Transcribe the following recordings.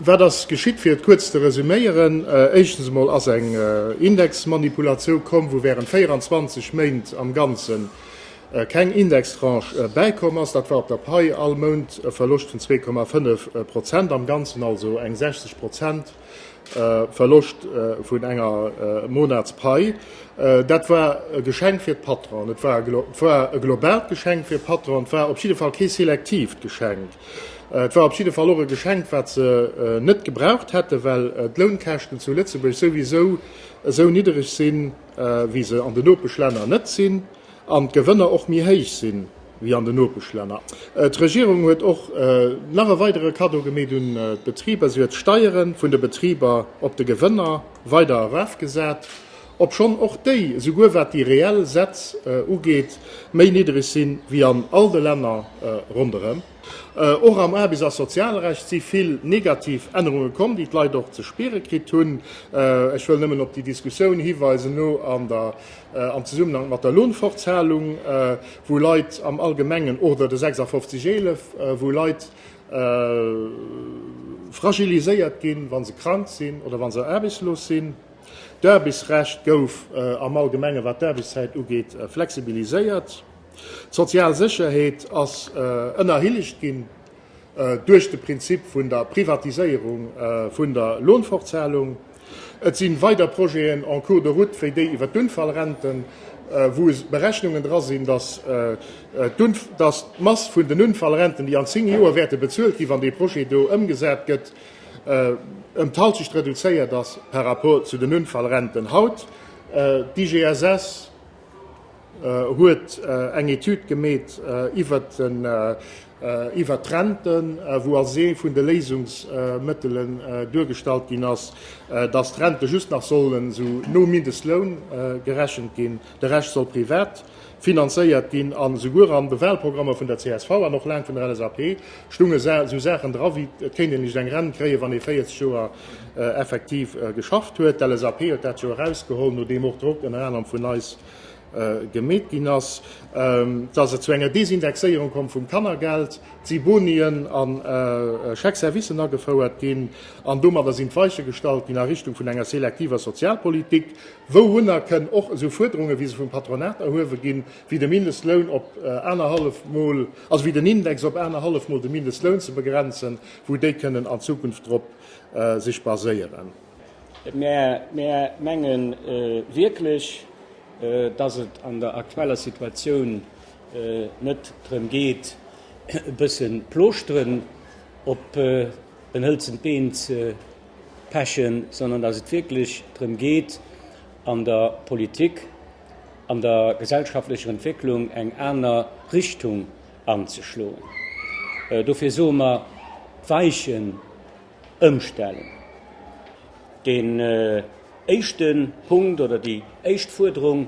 Wat ass geschitt? Fir et kuerz ze resüméieren, Éischtens emol ass eng Indexmanipulatioun komm, wou während 24 Méint am Ganzen keng Indextranche bäikomm ass. Dat war op der Pai all Mount e Verloscht vun 2,5 Prozent, am Ganzen also eng 60 Prozent Verloscht vun enger Monatspai. Dat war e Geschenk fir d'Patronen. Et war e globaalt Geschenk fir d'Patronen. Et war op jidde Fall kee selektiivt Geschenk. Et war op jidde Fall och e Geschenk, wat se net gebraucht hätten, well d'Lounkäschten zu Lëtzebuerg souwisou esou niddereg sinn, wéi se an de Nopeschlänner net sinn, an d'Gewënner och méi héich sinn, wéi an de Nopeschlänner. D'Regierung huet och nach e weidere Kaddo gemeet un d'Betriber, Si huet d'Steiere vun de Betriber op de Gewënner weider erafgesat. obschonn och déi, esouguer wat déi reell Sätz ugeet, méi niddereg sinn, wéi an all de Länner ronderëm. Och am Aarbechts a Sozialrecht si vill negativ Ännerunge komm, déi d'Leit och ze spiere kritt hunn. Ech wëll nëmmen op déi Diskussioun hiweisen no an der, am Zesummenhank mat der Lohnfortzahlung, wou Leit am Allgemengen, oder de 56 11, wou Leit fragiliséiert ginn, wa se krank sinn oder wa se aarbechtslos sinn. D'Aarbechtsrecht gouf am Allgemenge wat d'Aarbechtszäit ugeet flexibiliséiert. D'sozial Sécherheet ass ënnerhillegt ginn duerch de Prinzip vun der Privatiséierung vun der Lohnfortzahlung. Et si weider Projeten en cours de route wéi déi iwwer d'Unfallrenten, wou Berechnungen dra sinn, datt d'Mass vun den Unfallrenten, déi an zéng Joer wäerte bezuelt ginn, wann dee Projet do ëmgesat gëtt, ëm d'Halschecht reduzéiert ass par rapport zu den Unfallrenten haut. D'IGSS huet eng Etüd gemeet iwwert d'Renten, wou als ee vun de Léisungsmëttelen duergestallt ginn ass, datt d'Rente just nach sollen esou no Mindestloun gerechent ginn, de Rescht soll privat finanzéiert ginn. A souguer an de Wahlprogrammer vun der csv an och laang vun der LSAP stounge sou Saachen dra wéi, et kéint een licht eng Rent kréien, wann ee 40 Joer effektiv geschafft huet. D'LSAP huet dat jo erausgeholl, nodeem och Drock ënner anerem vun eis gemeet ginn ass, dass et zu enger Desindexéierung komm vum Kannergeld, si Bonien a Chèques-servicen agefouert ginn an domadder sinn d'Weiche gestallt ginn a Richtung vun enger selektiver Sozialpolitik, Wourunner kënnen och esou Fuerderungen, wéi se vum Patronat erhuewe ginn, wéi de Mindestloun op anerhallef Mol, also wéi den Index op anerhallef Mol de Mindestloun ze begrenzen, wou déi kënnen an Zukunft drop sech baséieren. Mir menge wierklech, dass et an der aktueller Situatioun net drëm geet, e bësse Plooschteren op en hëlzent Been ze Pechen, sondern dass et wierklech drëm geet, an der Politik, an der gesellschaftlecher Entwécklung eng aner Richtung anzeschloen. Dofir soe mer, Weichen ëmstellen. Deen éischte Punkt oder déi éischt Fuerderung,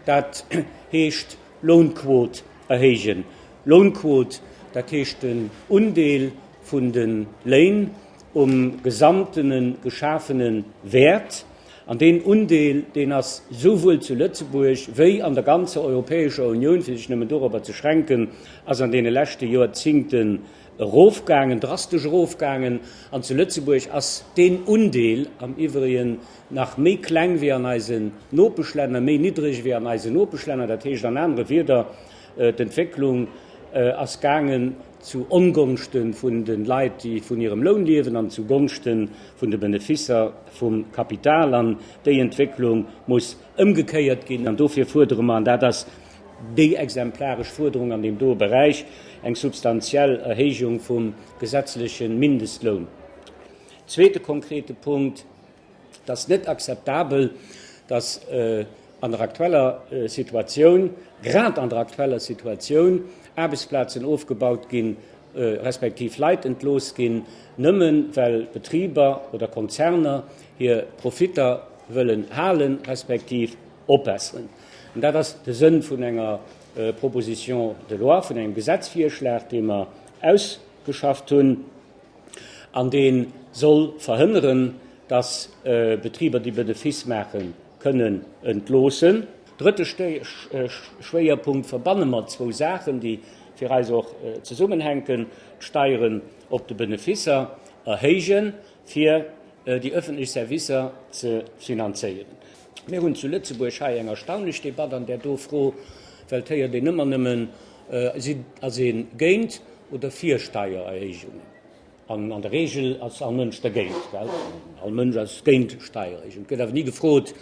dat heescht Lounquot erhéijen. Lounquot, dat heescht den Undeel vun de Léin, um gesamtene geschafene Wäert, an deen Undeel, deen ass souwuel zu Lëtzebuerg wéi an der ganzer Europäescher Unioun, fir sech nëmmen dorobber ze schränken, ass an deene leschte Jorzingten erofgaangen, drastesch erofgaangen. An zu Lëtzebuerg ass deen Undeel am iwwrigen nach méi kleng wéi an eisen Nopeschlänner, méi niddreg wéi an eisen Nopeschlänner. Dat heescht an anere Wieder, d'Entwécklung ass gaangen, zu Ongonschte vun de Leit, déi vun hirem Loun liewen, an zu Gonschte vun de Benefisser vum Kapital. An déi Entwécklung muss ëmgekéiert ginn. An dofir fuerdere mer, an dat ass déi exemplaresch Fuerderung an deem doe Beräich, eng substantiell Erhéijung vum gesetzleche Mindestloun. Zweete konkrete Punkt. Et ass net akzeptabel, dass an der aktueller Situatioun, grad an der aktueller Situatioun, Aarbechtsplazen ofgebaut ginn, respektiv Leit entlooss ginn, nëmme well Betriber oder Konzerner hir Profitter wëllen halen, respektiv opbesseren. An dat ass de Sënn vun enger Proposition de loi, vun engem Gesetzvirschlag, dee mer ausgeschafft hunn. an dee soll verhënneren, dass Betriber, déi Benefiss maachen, kënnen entloossen. Drëtte Schwéierpunkt, Verbanne mer zwou Saachen, déi fir eis och zesummenhänken, d'Steieren op de Benefisser erhéijen, fir déi öffentlech Servicer ze finanzéieren. Mir hunn zu Lëtzebuerg hei eng erstaunlech Debatt an där do Fro, well et héiert een ëmmer nëmmen, ass ee géint oder fir Steiererhéijungen. An an der Reegel ass all Mënsch dergéint, well all Mënsch ass géint Steiererhéijungen. Et gëtt awer ni gefrot,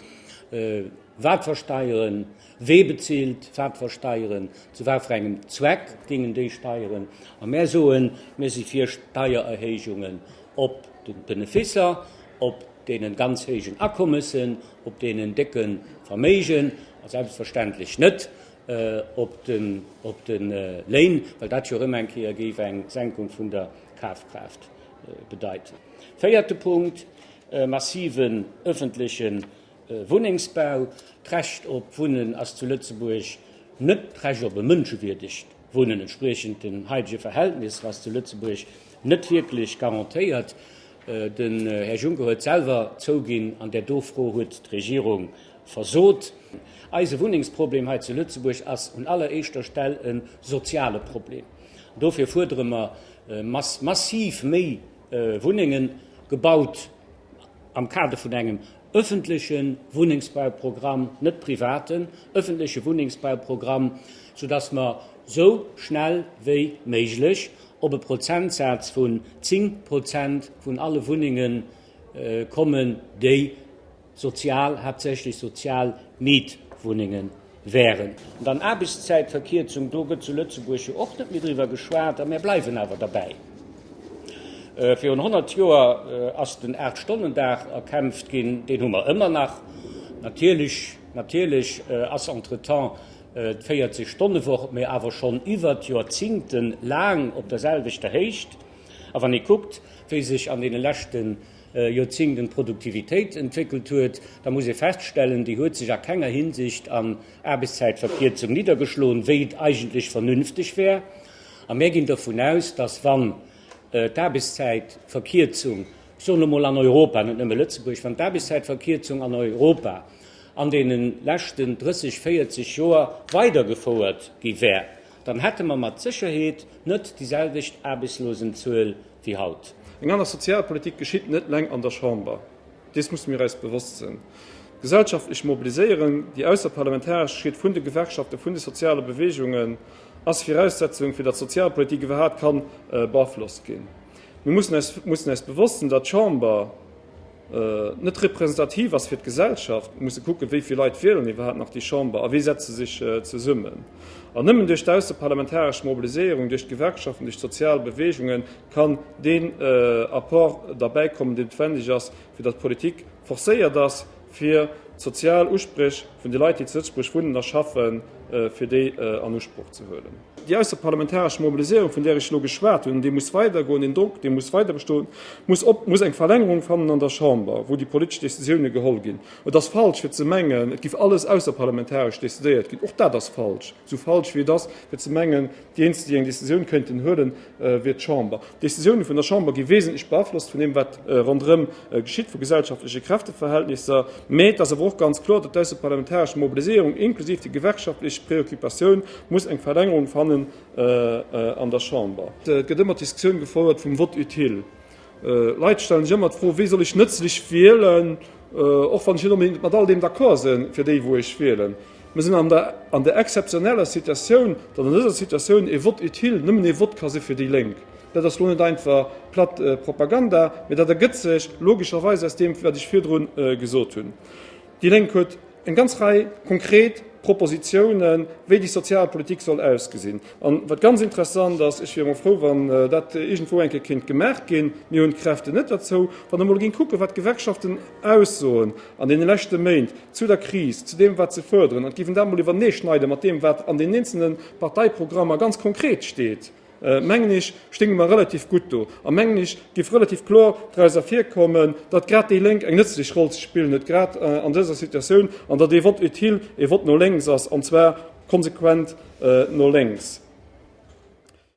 wat fir Steieren, wee bezilt wat fir Steieren, zu wat fir engem Zweck gingen déi Steieren. A mär soen, mir si fir Steiererhéijungen op de Beneficer, op deenen ganz héijen Akommessen, op deenen décken Verméigen a selbstverständlech net op de Léin, well dat jo erëm eng Kéier géif eng Senkung vun der Kafkraaft bedeiten. Véierte Punkt, e massiven ëffentleche Wunnengsbau. D'Recht op Wunnen ass zu Lëtzebuerg net d'Recht op e mënschewierdegt Wunnen entspriechend den haitege Verhältnisser ass zu Lëtzebuerg net wierklech garantéiert. Den Här Juncker huet selwer zouginn, an där do Fro huet d'Regierung versot. Eise Wunnengsproblem hei zu Lëtzebuerg ass un alleréischter Stell e soziale Problem. Dofir fuerdere mer, dass massiv méi Wunnenge gebaut am Kader vun engem. öffentleche Wunnengsbauprogramm, net privaten, öffentleche Wunnengsbauprogramm, soudass mer esou schnell wéi méiglech op e Prozentsaz vun 10 Prozent vun alle Wunnenge kommen, déi sozial, haaptsächlech sozial Mietwunnengen, wären. An dann Aarbechtszäitverkierzung, do gëtt zu Lëtzebuerg jo och net méi driwwer geschwat, a mär bleiwen awer derbäi. Virun 100 Joer ass den Aacht-Stonnen-Dag erkämpft ginn, deen hu mer ëmmer nach. Natierlech, natierlech ass entretemps d'Véierzeg Stonne-Woch, mee awer schonn iwwert Joerzingte laang op der selwechter Héicht. A wann ee kuckt, wéi sech an deene leschte. Joerzéngt un d'Produktivitéit entwéckelt huet, da muss ee feststellen, déi huet sech a kenger Hinsicht an Aarbechtszäitverkierzung niddergeschloen, wéi et eigentlech vernünfteg wär. A mär ginn dervun aus, dass, wann d'Aarbechtszäitverkierzung, ech soen elo mol an Europa, net nëmme Lëtzebuerg, wann d'Aarbechtszäitverkierzung an Europa an deene leschten 30, 40 Joer weidergefouert gi wär, Dann hätte mer mat Sécherheet net déi selwecht Aarbechtslosenzuel wéi haut. Eng aner Sozialpolitik geschitt net leng an der Chamber, dees musse mir eis bewosst sinn. D'gesellschaftlecht Mobiliséieren, déi ausserparlamentaresch geschitt vun de Gewerkschaften, vun de soziale Beweegungen, ass Viraussetzung, fir datt d'Sozialpolitik iwwerhaapt ka beaflosst ginn. Mir mussen eis bewosst sinn, datt d'Chamber, net representativ ass fir d'Gesellschaft, musse kucken, wéi vill Leit wielen iwwerhaapt nach déi Chamber a wéi setze sech zesummen. An nëmmen duerch d'ausseparlamentaresch Mobiliséierung, duerch d'Gewerkschaften, duerch d'sozial Beweegunge kann deen Apport derbäikommen, deen noutwendeg ass, fir datt d'Politik forcéiert ass, fir d'sozial Uspréch vun de Leit, déi zu Lëtzebuerg wunnen a schaffen, fir déi an Usproch ze huelen. Déi ausserparlamentaresch Mobiliséierung, vun där ech elo geschwat hunn, déi muss weidergoen, deen Drock, dee muss weiderbestoen, muss eng Verlängerung fannen an der Chamber, wou déi politesch Décisiounen geholl ginn. Et ass falsch, fir ze mengen, et géif alles ausserparlamentaresch décidéiert ginn. Och dat ass falsch, esou falsch wéi et ass, fir ze mengen, déi Eenzelen, déi eng Décisioun kéinten huelen, wier d'Chamber. D'Decisioune vun der Chamber gi wesentlech beaflosst vun deem, wat ronderëm geschitt, vu gesellschaftleche Kräfteverhältnisser. Mä et ass awer och ganz kloer, datt d'ausseparlamentaresch Mobiliséierung, inklusiv déi gewerkschaftlech Preoccupatioun, muss eng Verlängerung fannen an der Chamber. Et gëtt ëmmer d'Diskussioun gefouert vum Vote utile. Leit stellen sech ëmmer d'Fro, Wéi soll ech nëtzlech wielen? Och wann ech net onbedéngt mat all deem d'accord sinn, fir déi wou ech wielen. Mir sinn an der exzeptioneller Situatioun, datt an dëser Situatioun ee Vote utile nëmmen ee Vote ka si fir déi Lénk. Dat ass lo net einfach platt Propaganda, mee dat ergëtt sech logescherweis aus deem wat ech virdrun gesot hunn. Déi Lénk huet eng ganz Rei konkret Propositionen, wéi déi sozial Politik soll ausgesinn. An wat ganz interessant ass, ech wier emol frou, wann dat iergendwou eng Kéier kéint gemaach ginn, mir hunn d'Kräften net derzou, wann Der emol géingt kucken, wat d'Gewerkschaften aussoen an deene leschte Méint zu der Kris, zu deem, wat se fuerderen, an giff en dat emol iwwerneeschneide mat deem, wat an den eenzelne Parteiprogrammer ganz konkret steet. mengen ech, stéinge mer relativ gutt do a mengen ech géif relativ kloer doraus ervirkommen, datt grad déi Lénk eng nëtzlech Roll ze spillen huet, grad an dëser Situatioun, an datt ee Vote utile ee Vote no lénks ass, an zwar konsequent no lénks.